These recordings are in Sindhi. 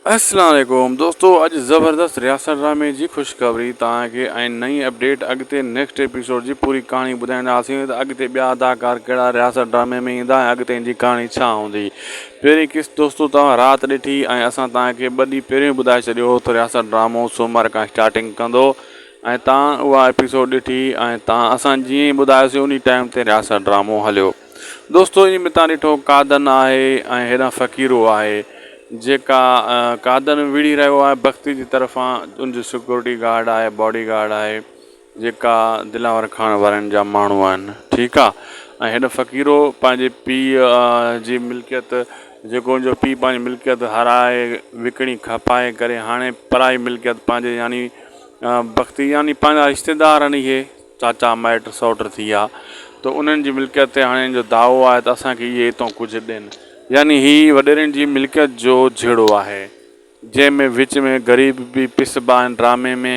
السلام عليڪم دوستو اڄ زبردست رياست ڊرامي جي خوشخبري تان کي ۽ نئين اپڊيٽ اڳتي نيڪسٽ ايپيسوڊ جي پوري ڪهاڻي ٻڌائينداسين ته اڳتي ٻيا اداڪار ڪهڙا رياست ڊرامي ۾ ايندا ۽ اڳتي جي ڪهاڻي ڇا هوندي پهرين قسط دوستو توهان رات ڏٺي ۽ اسان توهان کي ٻه ڏينهن پهريون ٻڌائي ڇڏيو هو ته رياست ڊرامو سومر کان اسٽارٽنگ ڪندو ۽ توهان اها ايپيسوڊ ڏٺي ۽ توهان اسان جيئن ئي ٻڌايوسي انهي ٽائيم تي رياست ڊرامو هليو دوستو انهي ۾ تان ڏٺو قادن آهي ۽ هيڏانهن فقيرو آهي جيڪا قادن وڙهي رهيو آهي بختي جي طرفان ان جي سڪيورٽي گارڊ آهي باڊي گارڊ آهي جيڪا دلاور کان وارن جا ماڻهو آهن ٺيڪ آهي ۽ هيڏانهن فقيرو پنهنجي پيء جي ملڪيت جيڪو ان جو پيء پنهنجي ملڪيت هارائي وڪڻي کپائي ڪري هاڻي پرائي ملڪيت پنهنجي يعني بختي يعني پنهنجا رشتيدار آهن اهي چاچا مائٽ سئوٽ ٿي ويا ته انهن جي ملڪيت تي هاڻي هن جو دعوو آهي ته اسان کي اهي هتئون ڪجهه ڏين. يعني هي وڏيرن جي ملڪيت جو جهيڙو آهي، جنهن ۾ وچ ۾ غريب به پسبا آهن، ڊرامي ۾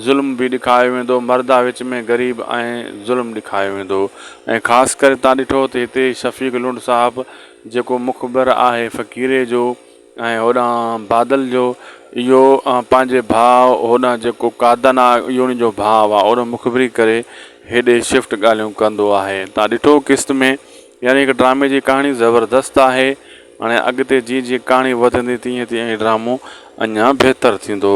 ظلم به ڏيکايو ويندو، مردا وچ ۾ غريب ۽ ظلم ڏيکايو ويندو ۽ خاص ڪري تان ڏٺو ته هتي شفيق لنڊ صاحب جيڪو مخبر آهي فقيري جو، ۽ هوڏانهن بادل جو اهو پنهنجي ڀاء هوڏانهن جيڪو قادن آ اهو ان جو ڀاء آ اهو مخبري ڪري هيڏي شفٽ ڳالهيون ڪندو آهي تان ڏٺو قسط ۾ يعني هڪ ڊرامي جي ڪهاڻي زبردست آهي هاڻي اڳتي جيئن جيئن ڪهاڻي وڌندي تيئن تيئن هي ڊرامو اڃان بهتر ٿيندو.